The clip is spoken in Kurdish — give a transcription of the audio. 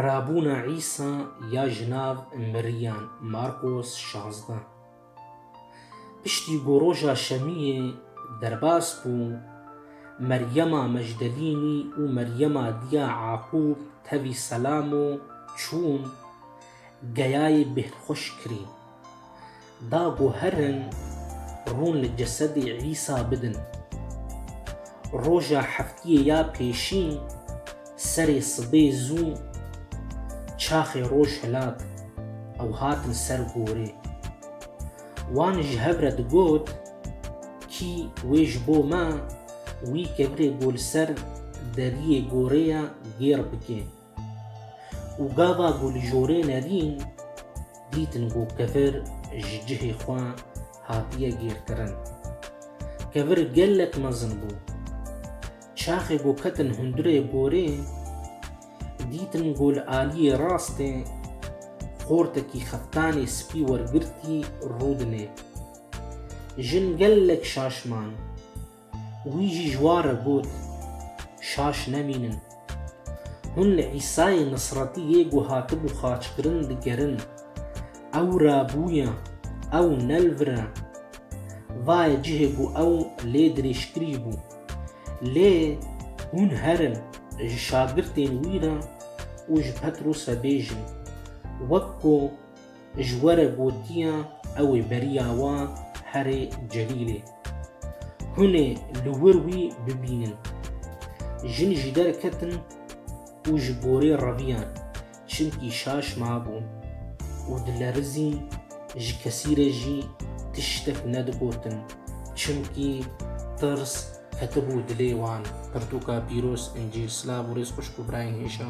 Rabûna Îsa ya ji nav miriyan Marqos şazdeh Piştî ku roja şemiyê derbas bû, Meryema Mecdelînî û Meryema diya Eqûb tevî selam û çûn geyayê bêhn xweş kirî. Da ku herin rûn li cesedê Îsa bidin. Roja heftiyê ya pêşîn serê sibê zû çaxê roj hilat ew hatin ser gorê. Wan ji hev re digot, Kî wê ji bo me wî kevirê gol ser deriyê gorê ye gêr bike. û gava ku li jorê Nerîn dîtin ku kevir ji cihê xwe hatiye gêrkirin. Kevir gelek mezin bû. Çaxê ku ketin hundirê gorê dîtin ku li aliyê rastê xortekî xeftanê spî wergirtî rûdinê. Jin gelek şaşman. Wî jî ji wan re got, Şaş nemînin. Hûn li Îsayê Nisretî yê ku hatibû xaçkirin digerin. Ew rabûye, ew nelvire. Va ye cihê ku ew lê dirêj kirîbû. Lê hûn herin ji şagirtên wî re û ji Petros re bêjin, wek ku Ji we re gotiya ew ê beriya wa herê Celîlê. Hûn ê li wir wî bibînin. Jin jî derketin û ji gorê reviyan çimkî şaş mabû û dilerizîn ji kesî re jî tiştek nedigotin çimkî tirs ketibû dilê wan. Pirtûka pîroz Encî silav û rêz xweş ku birayên hêşa.